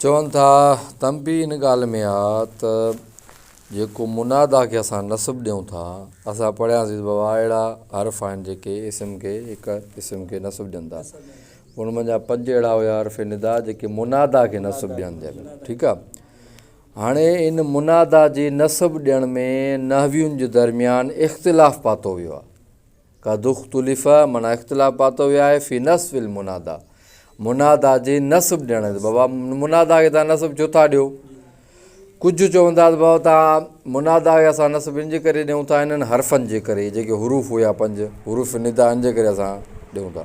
چون ٿا، تنبيهه ان ڳالهه ۾ آ ته جيڪو منادا کي اسان نصب ڏيون ٿا، اسان پڙهياسين ته بابا اهڙا حرف آهن جيڪي اسم کي هڪ اسم کي نصب ڏين ٿا. ان منجهان پنج اهڙا هيا حرف ندا جيڪي منادا کي نصب ڏين ٿا. ٺيڪ آ. هاڻي ان منادا جي نصب ڏيڻ ۾ نحوين جي درميان اختلاف پاتو ويو آ. قد اختلف معنيٰ اختلاف پاتو ويو آهي في نصب المنادا منادا جي نصب ڏيڻ تي بابا منادا کي تان نصب ڇو ٿا ڏيو ڪجهه چوندا ته بابا تان منادا کي اسان نصب ان جي ڪري ڏيون ٿا انهن حرفن جي ڪري جيڪي حروف هيا پنج حروف ندا ان جي ڪري اسان ڏيون ٿا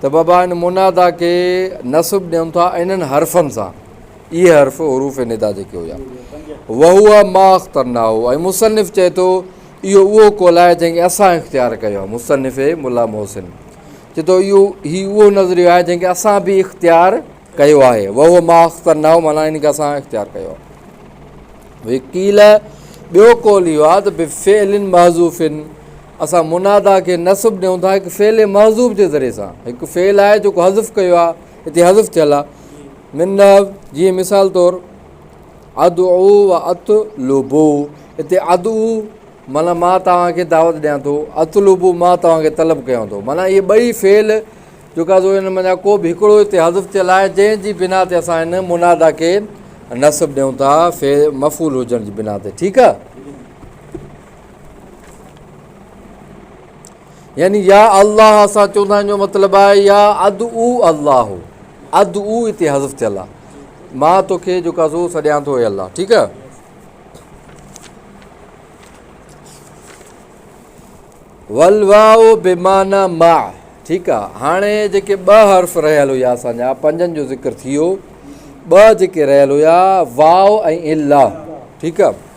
ته بابا ان منادا کي نصب ڏيون ٿا انهن حرفن سان، اهي حرف حروف ندا جيڪي هيا، وهو ما اخترناه ۽ مصنف چئي ٿو اهو اهو قول آهي جنهن کي اسان اختيار ڪيو آهي، مصنف ملا محسن چئي ٿو اهو هي اهو نظريو آهي جنهن کي اسان به اختيار ڪيو آهي، وهو ما اخترناه معنيٰ ان کي اسان اختيار ڪيو آهي. وقيل ٻيو قول اهو آهي ته بفعل محذوف اسان منادا کي نصب ڏيون ٿا هڪ فعل محذوف جي ذريعي سان. هڪ فعل آهي جيڪو حذف ڪيو آهي، هتي حذف ٿيل آهي. من نحو جيئن مثال طور ادعو و اطلبو هتي ادعو معنيٰ مان توهان کي دعوت ڏيان ٿو، اطلبو مان توهان کي طلب ڪيان ٿو. معنيٰ اهي ٻئي فعل جيڪا سو ان منجهان ڪو به هڪڙو هتي حذف ٿيل آهي جنهن جي بنا تي اسان هن منادا کي نصب ڏيون ٿا مفعول هجڻ جي بنا تي. ٺيڪ آهي. يعني يا الله سان چوندا آهن جو مطلب آهي يا ادعو الله ادعو هتي حذف ٿيل آهي مان توکي جو ڪازو سڏيان ٿو اي الله ٺيڪ آهي ولواو بيمانا ما ٺيڪ آهي هاڻي جيڪي ٻه حرف رهيل هيا اسانجا پنجن جو ذڪر ٿي ويو ٻه جيڪي رهيل هيا واو ۽ الا ٺيڪ آهي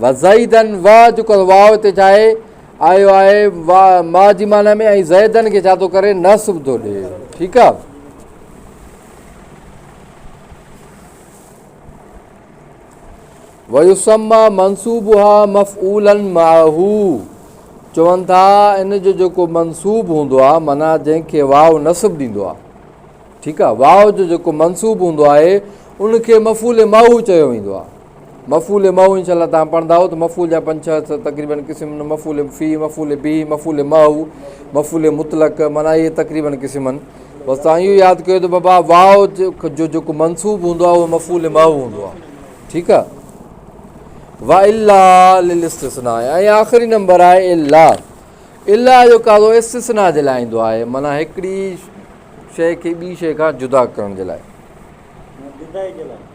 وزيدن و جو ڪو واء هتي ڇا آهي؟ آيو آهي وا ما جي معنيٰ ۾ ۽ زيدن کي ڇا ٿو ڪري نصب ٿو ڏي ٺيڪ آهي ويسما منصوبها مفعولا معه چون ٿا ان جو جيڪو منصوب هوندو آهي معنيٰ جنهن کي واو نصب ڏيندو آهي ٺيڪ آهي واو جو جيڪو منصوب هوندو آهي ان کي مفعول معه چيو ويندو آهي مفعول مئو انشاء الله توهان پڙهندائو ته مفعول جا پنج ڇهه ته تقريبن قسم آهن مفعول في مفعول به مفعول معه مفعول مطلق معنيٰ اهي تقريبن قسم آهن بس توهان اهو ياد ڪيو ته بابا واء جو جيڪو منصوب هوندو آهي اهو مفعول معه هوندو آهي ٺيڪ آهي وا الا للاستثناء ۽ آخري نمبر آهي الا الا جو قاضو استثناء جي لاء ايندو آهي معنيٰ هڪڙي شيء کي ٻي شيء کان جدا ڪرڻ جي لاء جدا جي لاء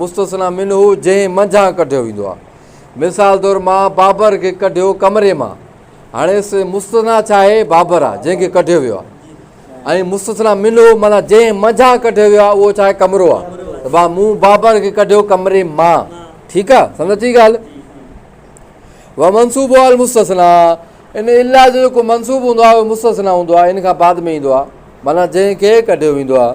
مستثنی منه جنهن منجهان ڪڍيو ويندو آهي. مثال طور مان بابر کي ڪڍيو ڪمري مان. هاڻي اس مستثنيٰ ڇا آهي؟ بابر آهي جنهن کي ڪڍيو ويو آهي. ۽ مستثنيٰ منه معنيٰ جنهن منجهان ڪڍيو ويو آهي اهو ڇا آهي؟ ڪمرو آهي. ته با مون بابر کي ڪڍيو ڪمري مان. ٺيڪ آهي؟ سمجهه اچي ڳالهه؟ ومنصوبها المستثنی ان الا جو جيڪو منصوب هوندو آهي اهو مستثنيٰ هوندو آهي ان کان بعد ۾ ايندو آهي معنيٰ جنهن کي ڪڍيو ويندو آهي.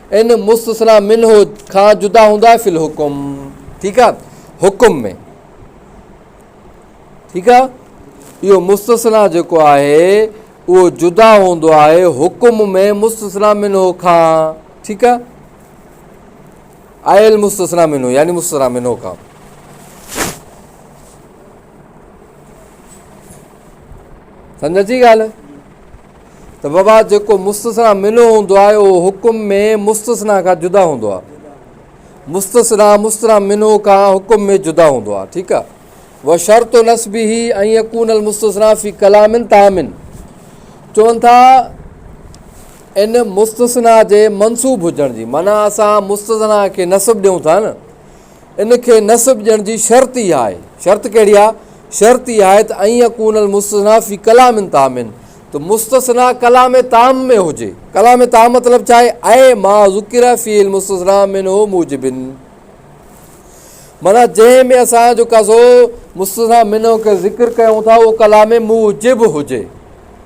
ان مستثنيٰ منه کان جدا هوندو آهي في الحڪم ٺيڪ آ حڪم ۾ ٺيڪ آ اهو مستثنيٰ جيڪو آهي اهو جدا هوندو آهي حڪم ۾ مستثنيٰ منه کان ٺيڪ آ آيل مستثنيٰ منه يعني مستثنيٰ منه کان سمجھ اچي ڳالھ ته وبا جيڪو مستثنيٰ منه هوندو آهي اهو حڪم ۾ مستثنيٰ کان جدا هوندو آهي مستثنيٰ مستثنيٰ منه کان حڪم ۾ جدا هوندو آهي ٺيڪ آهي و شرط و نصب هي ۽ يڪون المستثنيٰ في ڪلام تامن چون ٿا ان مستثنيٰ جي منصوب هجڻ جي معنی اسان مستثنيٰ کي نصب ڏيون ٿا نه ان کي نسب ڏيڻ جي شرط ئي اها آهي. شرط ڪهڙي آهي؟ شرط اها آهي ته ان يكون المستثنيٰ في ڪلام تام ته مستثنيٰ ڪلام تام ۾ هجي. ڪلام تام مطلب ڇا آهي؟ اي ما ذڪر فيه المستثنيٰ منه موجب. معنيٰ جنهن ۾ اسان جيڪا سو مستثنيٰ منه کي ذڪر ڪيون ٿا اهو ڪلام موجب هجي.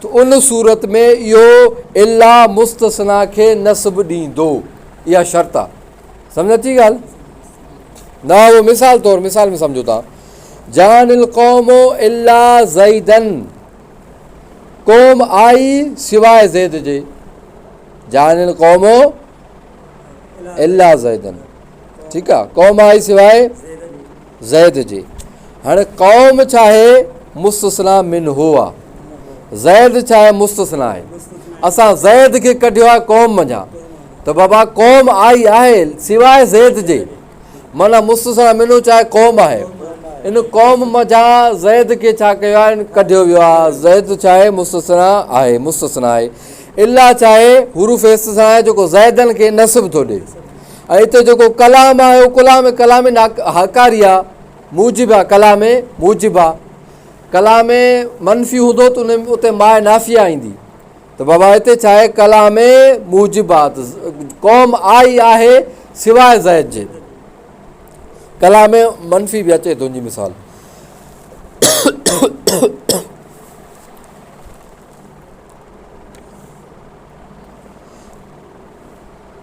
ته ان صورت ۾ اهو الا مستثنيٰ کي نصب ڏيندو. اها شرط آهي. سمجهه اچي ڳالهه؟ نه اهو مثال طور مثال ۾ سمجهو تان جان القوم الا زيدن قوم آئي سواء زيد جي جان القوم الا زيدن ٺيڪ آهي قوم آئي سواء زيد جي. هاڻي قوم چاهي مستثنيٰ منه آ. زيد چاهي مستثنيٰ آهي. اسان زيد کي ڪڍيو آهي قوم منجهان. ته بابا قوم آئي آهي سواء زيد جي. معنيٰ مستثنيٰ منه چاهي قوم آهي. ان قوم منجهان زيد کي ڇا ڪيو آهي ڪڍيو ويو آهي. زيد چاهي مستثنيٰ آهي مستثنيٰ آهي. الا چاهي حروف استثنيٰ آهي جيڪو زيدن کي نسب ٿو ڏئي. ۽ اتي جيڪو ڪلام آهي اهو ڪلام ڪلام هاڪاري آ موجب آ ڪلام موجب آ ڪلام منفي هوندو ته ان اتي ماء نافيه ايندي ته بابا هتي ڇا آهي ڪلام موجب آ قوم آئي آهي سواء زيد جي ڪلام منفي به اچي تنهنجي مثال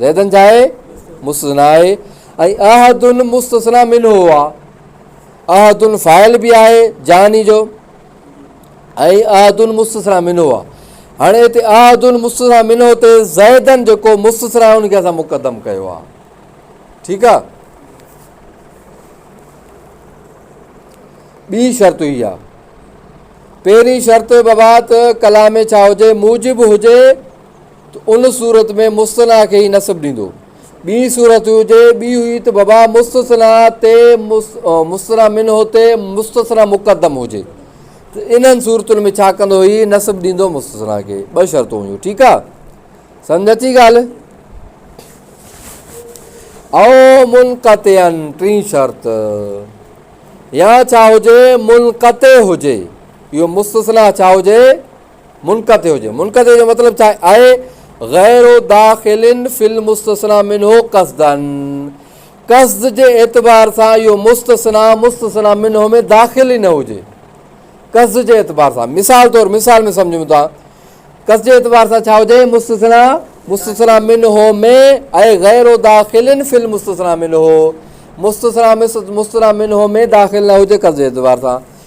زيدن جاء مستثنيٰ آهي ۽ احد مستثنيٰ منه آ. احد فاعل به آهي جاني جو ۽ احد مستثنيٰ منه آ. هاڻي هتي احد مستثنيٰ منه تي زيدن جيڪو مستثنيٰ ان کي اسان مقدم ڪيو آ. ٺيڪ آ. ٻي شرط هي آ پهرين شرط بابا ته ڪلام ۾ ڇا هجي موجب هجي ته ان صورت ۾ مثنيٰ کي ئي نصب ڏيندو. ٻي صورت هجي ٻي هئي ته بابا مستثنيٰ تي مثنيٰ منه تي مستثنيٰ مقدم هجي ته انهن صورتن ۾ ڇا ڪندو هي نصب ڏيندو مستثنيٰ کي ٻه شرطون هيون ٺيڪ آ سمجھ اچي ڳالهه او منقطعن ٽين شرط يا ڇا هجي منقطع هجي اهو مستثنيٰ ڇا هجي منقطع هجي، منقطع جو مطلب ڇا آهي؟ غير داخل في المستثنى منه قصدا، قصد جي اعتبار سان اهو مستثنيٰ مستثنيٰ منه ۾ داخل ئي نه هجي، قصد جي اعتبار سان مثال طور مثال ۾ سمجهون ٿا قصد جي اعتبار سان ڇا هجي مستثنيٰ مستثنيٰ منه ۾ اي غير داخل في المستثنى منه مستثنيٰ مستثنيٰ منه ۾ داخل نه هجي قصد جي اعتبار سان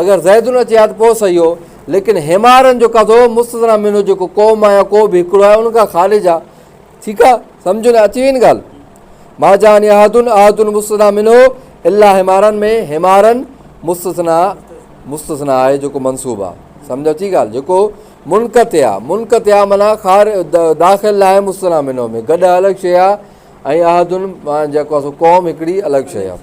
اگر زيدن اچي ها ته پوء صحيح هو، ليڪن حمارن جو قضو مستثنيٰ منه جيڪو قوم آهي يا ڪو به هڪڙو آهي ان کان خارج آهي ٺيڪ آهي سمجهه ۾ اچي وئي نه ڳالهه ما جاني احدن احدن مستثنيٰ منه الا حمارن ۾ حمارن مستثنيٰ مستثنيٰ آهي جيڪو منصوب آهي سمجهه اچي ڳالهه جيڪو منقطع آهي منقطع آهي معنيٰ خار داخل ناهي مستثنيٰ منه ۾ گڏ الڳ شيء آهي ۽ احدن جيڪو قوم هڪڙي الڳ شيء آهي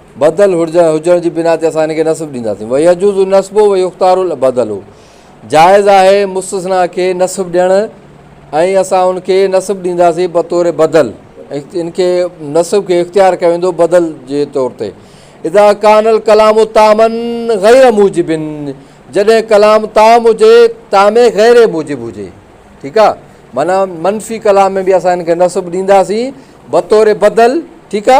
بدل هجڻ جي بنا تي اسان هن کي نصب ڏينداسين، ويجوز النصب ويختار البدل، جائز آهي مستثنيٰ کي نصب ڏيڻ ۽ اسان ان کي نصب ڏينداسين بطور بدل، ان کي نصب کي اختيار ڪيو ويندو بدل جي طور تي، اذا ڪان الڪلام طعما غير موجب، جڏهن ڪلام طعم هجي طعم غير موجب هجي، ٺيڪ آ، معنيٰ منفي ڪلام ۾ به اسان هن کي نصب ڏينداسين بطور بدل، ٺيڪ آ.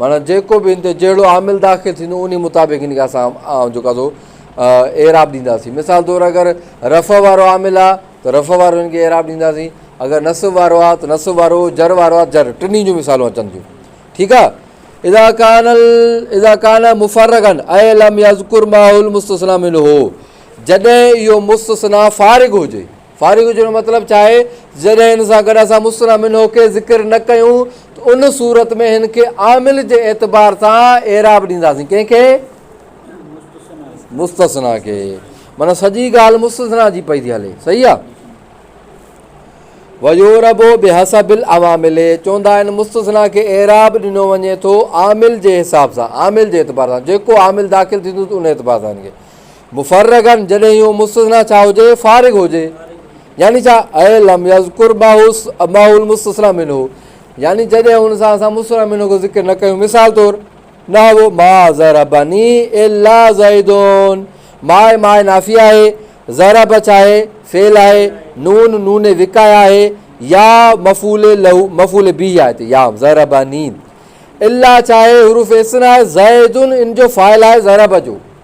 معنيٰ جيڪو به ان تي جهڙو عامل داخل ٿيندو انهي مطابق ان کي اسان جيڪا سو اعراب ڏينداسين مثال طور اگر رفع وارو عامل آ ته رفع وارو ان کي اعراب ڏينداسين اگر نصب وارو آ ته نصب وارو جر وارو آ جر ٽنهي جون مثالون اچن ٿيون ٺيڪ آ اذا کان اذا کان مفرغن اي لم يذكر ماحول مستثنا منه جڏهن اهو مستثنا فارغ هجي فارغ هجڻ جو مطلب ڇا آهي؟ جڏهن هن سان گڏ اسان مثنيٰ منه کي ذڪر نه ڪيون ته ان صورت ۾ هن کي عامل جي اعتبار سان اعراب ڏينداسين، ڪنهن کي؟ مستثنيٰ کي. معنيٰ سڄي ڳالهه مستثنيٰ جي پئي ٿي هلي. صحيح آهي. ويعرب بحسب العوامل، چوندا آهن مستثنيٰ کي اعراب ڏنو وڃي ٿو عامل جي حساب سان، عامل جي اعتبار سان، جيڪو عامل داخل ٿيندو ته ان اعتبار سان هن کي. مفرغاً جڏهن اهو مستثنيٰ ڇا هجي فارغ هجي يعني ڇا اي لم يذڪر ماهوس ماهو المستثنيٰ منه يعني جڏهن ان سان اسان مستثنيٰ منه جو ذڪر نه ڪيون مثال طور نحو ما ضربني الا زيد ما ما نافي آهي ضرب ڇا آهي فعل آهي نون نون وقايه آهي يا مفعول له مفعول به آهي هتي يا ضربني الا ڇا آهي حروف اسنا زيد ان جو فاعل آهي ضرب جو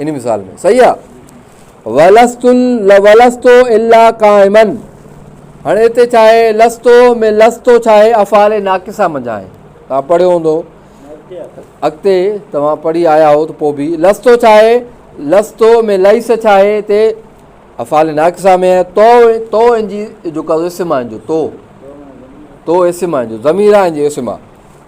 انهي مثال ۾ صحيح آ. ولست ولست الا قائما هاڻي هتي ڇا آهي لست ۾ لست ڇا آهي افعال ناقصه منجهان آهي توهان پڙهيو هوندو اڳتي توهان پڙهي آيا هو ته پوء به لست ڇا آهي لست ۾ لئس ڇا آهي هتي افعال ناقصه ۾ آهي تو تو ان جي جو قضو اسم آهن جو تو تو اسم آهن جو ضمير آهن جو اسم آهي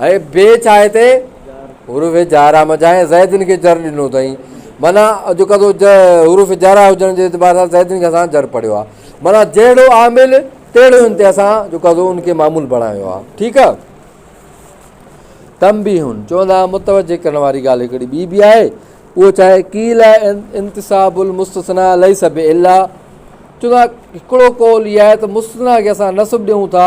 هيء بي چاهه تي حروف جارحه مجاهه زيدن کي جر ڏنو اٿئين. معنيٰ جو ڪندو حروف جارحه هجڻ جي اعتبار سان زيدن کي اسان جر پڙهيو آهي. معنيٰ جهڙو عامل تهڙو هن تي اسان جو ڪندو ان کي معمول بڻايو آهي. ٺيڪ آهي. تنبيهه، چوندا آهن متوجهه ڪرڻ واري ڳالهه هڪڙي ٻي به آهي اهو ڇا آهي، قيل انتساب المستثنی ليس بعله، چوندا هڪڙو قول هي آهي ته مستثنيٰ کي اسان نسب ڏيون ٿا،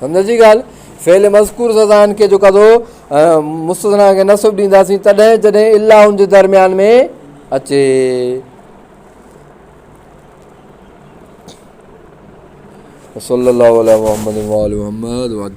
سمجهڻ جي ڳالهه فعل مذڪور سزائن کي جيڪا ٿو مستثنا کي نصب ڏينداسين تڏهن جڏهن الا ان جي درميان ۾ اچي صلي الله عليه محمد وآل محمد